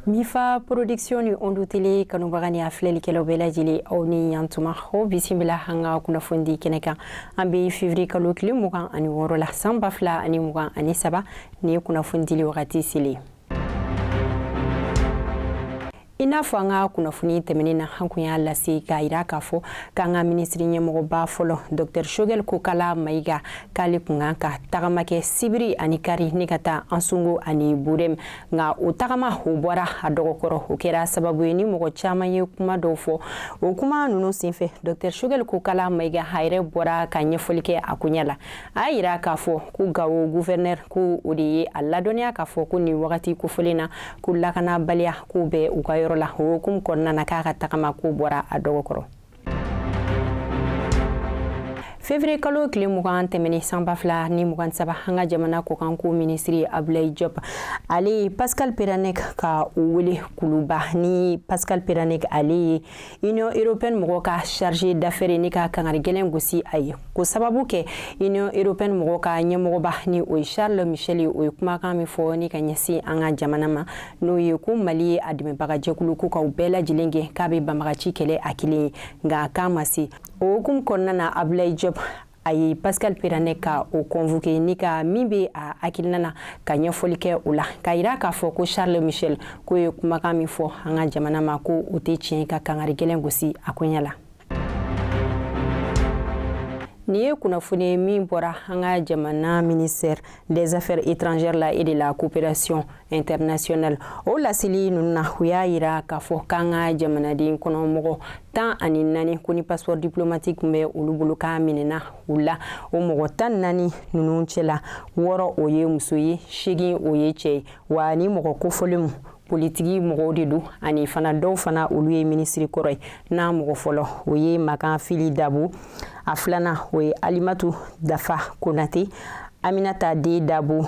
Mifa production ni Ondu Tele kanubaga ni a filɛlikɛlaw bɛɛ lajɛlen aw ni yantuma aw bisimila an ka kunnafoni kɛnɛ kan an bɛ fevriye kalo tile mugan ani wɔɔrɔ la san ba fila ani mugan ani saba nin ye kunnafoni dili wagati selen i n'a fɔ an ka kunnafoni tɛmɛnen na an kun y'a lase k'a yira k'a fɔ k'an ka minisiri ɲɛmɔgɔba fɔlɔ dɔktɛr shogɛl kokala mayiga k'ale kun kan ka tagama kɛ sibiri ani kari ni ka taa ansungo ani burem nka o tagama o bɔra a dɔgɔkɔrɔ o kɛra sababu ye ni mɔgɔ caman ye kuma dɔw fɔ o kuma ninnu senfɛ dɔktɛr shogɛl kokala mayiga a yɛrɛ bɔra ka ɲɛfɔli kɛ a koɲɛ la a y'a yira k'a fɔ ko gawo guvɛrnɛr ko o de ye a ladɔnniya k'a fɔ ko nin wagati kofɔlen na ko lakanabaliya ko bɛ u ka yɔrɔ la o hukumu kɔnɔna na k'a ka tagama ko bɔra a dɔgɔ kɔrɔ fevriye kalo tile mugan tɛmɛnen san ba fila ni mugan saba an ka jamana kɔkanko minisiri abulayi jɔp ale ye pascal perennec ka o wele kuluba ni pascal perennec ale ye Union européenne mɔgɔw ka chargé d'affaires ye ni ka kangari gɛlɛn gosi a ye k'o sababu kɛ Union européenne mɔgɔw ka ɲɛmɔgɔba ni o ye Charles Michel ye o ye kumakan min fɔ ni ka ɲɛsin an ka jamana ma n'o ye ko Mali ye a dɛmɛbaga jɛkulu ko ka u bɛɛ lajɛlen gɛn k'a bɛ banbagaci kɛlɛ a kelen ye nka k'a ma se o hukumu kɔnɔna na Abulayi Jɔp a ye pascal perennec ka o convoqué ni ka min bɛ a hakilina na ka ɲɛfɔli kɛ o la k'a yira k'a fɔ ko charles michel k'o ye kumakan min fɔ an ka jamana ma ko o tɛ tiɲɛ ka kangari gɛlɛn gosi a koɲɛ la nin ye kunnafoni ye min bɔra an ka jamana ministère des affaires étrangères la et de la coopération internationale o laseli ninnu na u y'a yira k'a fɔ k'an ka jamanaden kɔnɔ mɔgɔ tan ani naani ko ni passeport diplomatique tun bɛ olu bolo k'a minɛna u la o mɔgɔ tan naani ninnu cɛla wɔɔrɔ o ye muso ye seegin o ye cɛ ye wa nin mɔgɔ kofɔlen politiki mɔgɔw de don ani fana dɔw fana olu ye minisiri kɔrɔ ye n'a mɔgɔ fɔlɔ o ye makan fili dabo a filanan o ye alimatu dafa konate aminata de dabo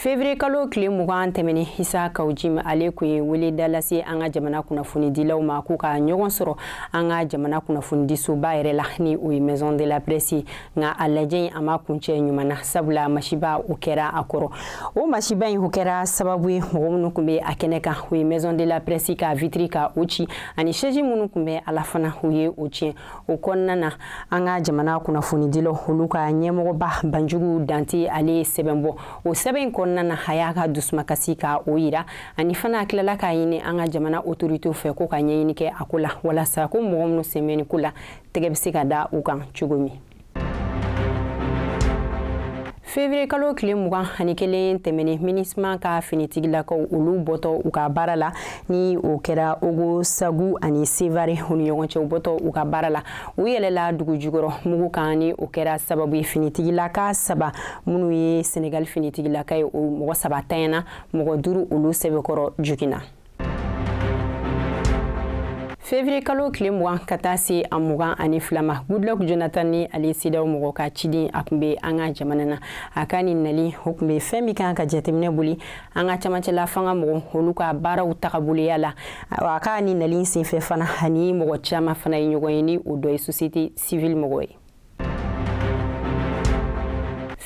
fevrier kalo tile mugan tɛmɛnen isa kawu jimi ale kun ye weleda lase an ka jamana kunnafonidilaw ma k'u ka ɲɔgɔn sɔrɔ an ka jamana kunnafonidisoba yɛrɛ la ni o ye maison de la presse nka a lajɛ in a ma kuncɛ ɲuman na sabula masiba o kɛra a kɔrɔ o masiba in o kɛra sababu ye mɔgɔ minnu tun bɛ a kɛnɛ kan o ye maison de la presse ka vitiri ka o ci ani sɛji minnu tun bɛ a la fana u ye o tiɲɛ o kɔnɔna na an ka jamana kunnafonidilaw olu ka ɲɛmɔgɔba banjugu dante ale ye sɛbɛn bɔ o sɛbɛn in kɔnɔna na a y'a ka dusumakasi ka o yira ani fana a tilala k'a ɲini an ka jamana otoritew fɛ ko ka ɲɛɲini kɛ a ko la walasa ko mɔgɔ minnu sen bɛ nin ko la tɛgɛ bɛ se ka da u kan cogo min fevrier kalo tile mugan ani kelen tɛmɛnen minusma ka finitigilakaw olu bɔtɔ u ka baara la ni o kɛra ogosagu ani sevare u ni ɲɔgɔn cɛ u bɔtɔ u ka baara la u yɛlɛla dugu jukɔrɔ mugu kan ni o kɛra sababu ye finitigilaka saba minnu ye senegal finitigilaka ye o mɔgɔ saba tanyana mɔgɔ duru olu sɛbɛkɔrɔ joginna fevriye kalo tile mugan ka taa se a mugan ani fila ma goodluck jonathan ni ale cedeao mɔgɔ ka ciden a kun bɛ an ka jamana na a ka nin nali o kun bɛ fɛn min kan ka jateminɛ boli an ka camancɛla fanga mɔgɔ olu ka baaraw tagaboloya la a ka nin nali senfɛ fana a ni mɔgɔ caaman fana ye ɲɔgɔn ye ni o dɔ ye sosiyete sivili mɔgɔ ye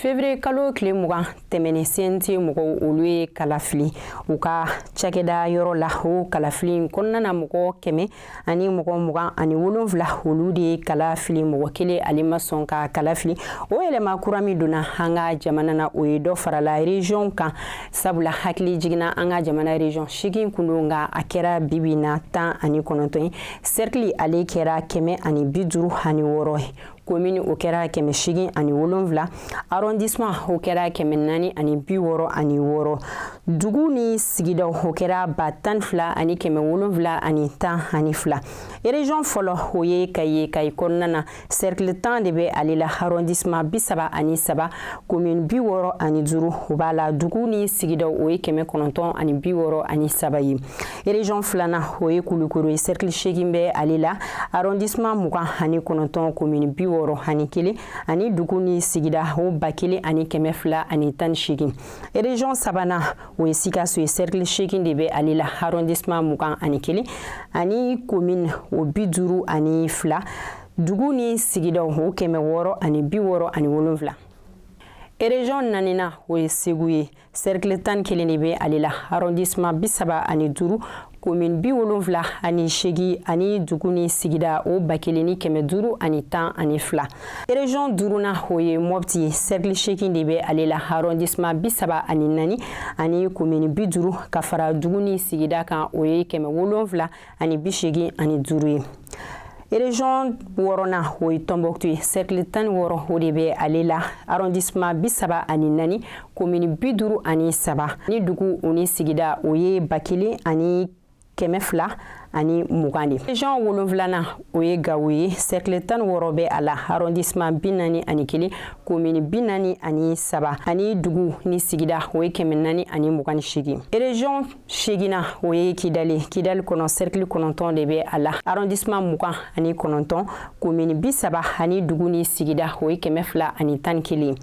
fevrier kalo tile mugan tɛmɛnen cnt mɔgɔw olu ye kala fili u ka cakɛda yɔrɔ la o kalafili in kɔnɔna na mɔgɔ kɛmɛ ani mɔgɔ mugan ani wolonfila olu de ye kala fili mɔgɔ kelen ale ma sɔn ka kala fili o yɛlɛma kura min donna an ka jamana na o ye dɔ farala region kan sabula hakili jiginna an ka jamana region seegin kun don nka a kɛra bibi na tan ani kɔnɔntɔn ye serikili ale kɛra kɛmɛ ani bi duuru ani wɔɔrɔ ye komini o kɛra kɛmɛ seegin ani wolonwula arrondissement o kɛra kɛmɛ naani ani bi wɔɔrɔ ani wɔɔrɔ dugu ni sigidaw o kɛra ba tan fila ani kɛmɛ wolonwula ani tan ani fila erezɔn fɔlɔ o ye kayi ye kayi kɔnɔna na sɛrikili tan de bɛ ale la arɔndisima bi saba ani saba komin bi wɔɔrɔ ani duuru o b'a la dugu ni sigidaw o ye kɛmɛ kɔnɔntɔn ani bi wɔɔrɔ ani saba ye erezɔn filanan o ye kulukoro ye sɛrikili seegin bɛ ale la arɔndisima mugan ani kɔnɔntɔn komin bi wɔɔrɔ ani kelen ani dugu ni sigida o ba kelen ani kɛmɛ fila ani tan ni seegin erezɔn sabanan o ye sikaso ye cercle seegin de bɛ ale la arrondissement mugan ani kelen ani commune o bi duuru ani fila dugu ni sigidaw o kɛmɛ wɔɔrɔ ani bi wɔɔrɔ ani wolonfila erezɔn naaninan o ye segu ye serikili tan ni kelen de bɛ ale la arrondissement bi saba ani duuru komin bi wolonfila ani seegin ani dugu ni sigida o ba kelen ni kɛmɛ duuru ani tan ani fila erezɔn duurunan o ye mɔpti ye sɛrikili seegin de bɛ ale la arɔndisema bi saba ani naani ani komini bi duuru ka fara dugu ni sigida kan o ye kɛmɛ wolonfila ani bi seegin ani duuru ye Région wɔɔrɔnan o ye tɔnbukutu ye sɛrikili tan ni wɔɔrɔ o de bɛ ale la arrondissement bi saba ani naani komini bi duuru ani saba ni dugu ni sigida o ye ba kelen ani kɛmɛ fila ani mugan ye région wolonfilanan o ye gawo ye sɛrikili tan ni wɔɔrɔ bɛ a la arrondissement bi naani ani kelen komini bi naani ani saba ani dugu ni sigida o ye kɛmɛ naani ani mugan ni seegin région seginnan o ye kidali kidali kɔnɔ sɛrikili kɔnɔntɔn de bɛ a la arɔndisiman mugan ani kɔnɔntɔn komini bi saba ani dugu ni sigida o ye kɛmɛ fila ani tan ni kelen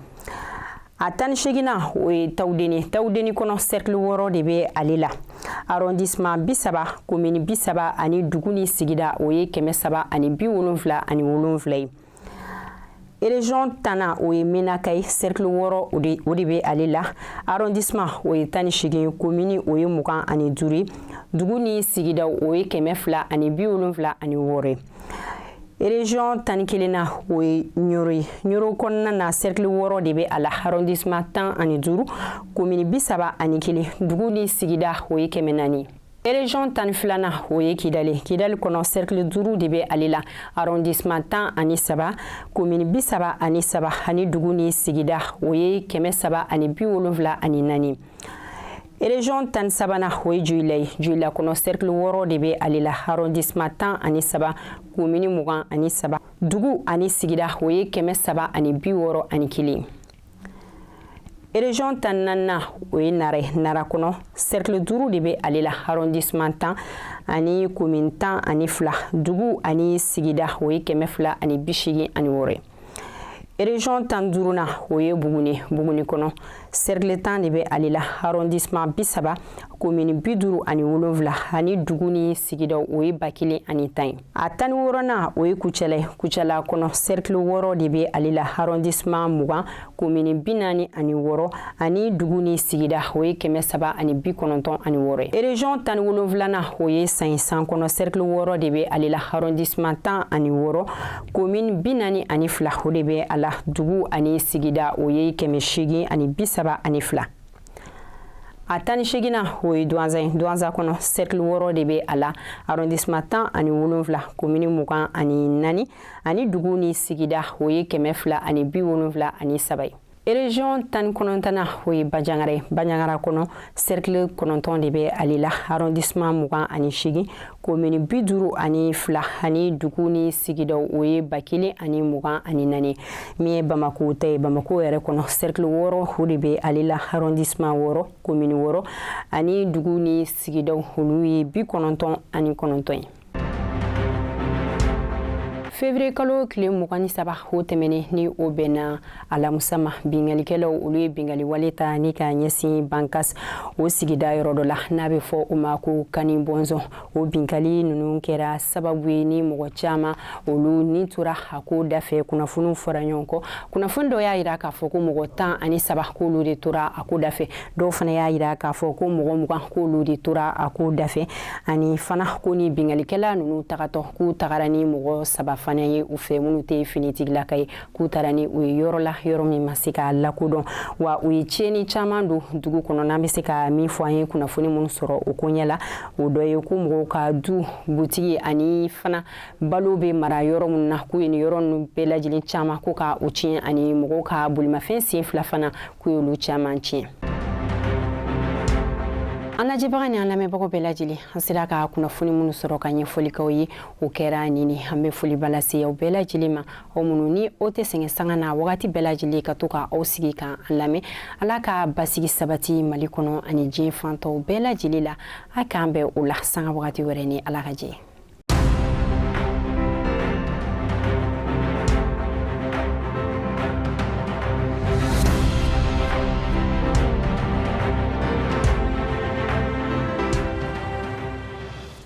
a tan ni seginnan o ye tawudeni tawudeni kɔnɔ sɛrikili wɔɔrɔ de bɛ ale la arɔndisiman bi saba komini bi saba ani dugu ni sigida o ye kɛmɛ saba ani bi wolonfila ani wolonfila ye Région tannan o ye Menaka ye cercle wɔɔrɔ o de bɛ ale la arrondissement o ye tan ni segin commune o ye mugan ani duuru dugu ni sigida o ye kɛmɛ fila ani bi wolonwula ani wɔɔrɔ région tan ni kelennan o ye Ɲɔrɔ kɔnɔna na cercle wɔɔrɔ de bɛ a la arrondissement tan ani duuru commune bi saba ani kelen dugu ni sigida o ye kɛmɛ naani Région tan filanan o ye kidali kidali kɔnɔ cercle duuru de bɛ ale la arrondissement tan ani saba commune bi saba ani saba ani dugu ni sigida o ye kɛmɛ saba ani bi wolonwula ani naani Région tan sabanan o ye Joyila ye Joyila kɔnɔ cercle wɔɔrɔ de bɛ ale la arrondissement tan ani saba commune mugan ani saba dugu ani sigida o ye kɛmɛ saba ani bi wɔɔrɔ ani kelen Ereziyɔn tan naaninan o ye nara nara kɔnɔ sɛrikili duuru de bɛ ale la arɔndisiman tan ani komini tan ani fila dugu ani sigida o ye kɛmɛ fila ani bi segin ani wɔɔrɔ ye ereziyɔn tan duurunan o ye buguni buguni kɔnɔ sɛrikili tan de bɛ ale la arɔndisiman bi saba komini bi duuru ani wolonwula ani dugu ni sigida o ye ba kelen ani tan ye a tan ni wɔɔrɔnan o ye kucala ye kucala kɔnɔ sɛrikili wɔɔrɔ de bɛ ale la arɔndisiman mugan komini bi naani ani wɔɔrɔ ani dugu ni sigida o ye kɛmɛ saba ani bi kɔnɔntɔn ani wɔɔrɔ ye ereziyɔn tan ni wolonwulanan o ye san san kɔnɔ sɛrikili wɔɔrɔ de bɛ ale la arɔndisiman tan ani wɔɔrɔ komini bi naani ani fila o de bɛ a la dugu ani sigida o ye kɛmɛ seegin ani bi saba ani fila a tan ni seginnan o ye duwanza ye duwanza kɔnɔ sɛrikili wɔɔrɔ de bɛ a la arrondissement tan ani wolonfila komini mugan ani naani ani dugu ni sigida o ye kɛmɛ fila ani bi wolonfila ani saba ye ereziyɔn tan ni kɔnɔntɔnnan o ye banjagara ye banjagara kɔnɔ sɛrikili kɔnɔntɔn de bɛ ale la arɔndisiman mugan ani seegin komini bi duuru ani fila ani dugu ni sigidaw o ye ba kelen ani mugan ani naani min ye bamako ta ye bamako yɛrɛ kɔnɔ sɛrikili wɔɔrɔ o de bɛ ale la arrondissement wɔɔrɔ komini wɔɔrɔ ani dugu ni sigidaw olu ye bi kɔnɔntɔn ani kɔnɔntɔn ye fevrier kalo tile mugan ni saba o tɛmɛnen ni o bɛnna alamusa ma bingalikɛlaw olu ye bingali wale ta ni k'a ɲɛsin bankas o sigida yɔrɔ dɔ la n'a bɛ fɔ o ma ko kani bɔnzɔn o binkali ninnu kɛra sababu ye ni mɔgɔ caman olu ni tora a ko dafɛ kunnafoniw fɔra ɲɔgɔn kɔ kunnafoni dɔ y'a jira k'a fɔ ko mɔgɔ tan ani saba k'olu de tora a ko dafɛ dɔw fana y'a jira k'a fɔ ko mɔgɔ mugan k'olu de tora a ko dafɛ ani fana ko ni bingalikɛla ninnu tagatɔ k'u tagara ni mɔgɔ saba fana ye u fɛ minnu tɛ finitigilaka ye k'u taara ni u ye yɔrɔ la yɔrɔ min ma se ka lakodɔn wa u ye tiɲɛni caman don dugu kɔnɔ n'an bɛ se ka min fɔ an ye kunnafoni minnu sɔrɔ o ko ɲɛ la o dɔ ye ko mɔgɔw ka du butigi ani fana balo bɛ mara yɔrɔ minnu na k'u ye nin yɔrɔ ninnu bɛɛ lajɛlen caman ko ka u tiɲɛ ani mɔgɔw ka bolimafɛn sen fila fana k'u y'olu caman tiɲɛ an lajɛbaga ni an lamɛnbagaw bɛɛ lajɛlen an sera ka kunnafoni minnu sɔrɔ ka ɲɛfɔli k'aw ye o kɛra nin ni an bɛ foliba lase aw bɛɛ lajɛlen ma o minnu ni o tɛ sɛgɛn sanga na wagati bɛɛ lajɛlen ka to ka aw sigi ka an lamɛn ala ka basigi sabati mali kɔnɔ ani diɲɛ fan tɔw bɛɛ lajɛlen la a k'an bɛn o la sanga wagati wɛrɛ ni ala ka jɛ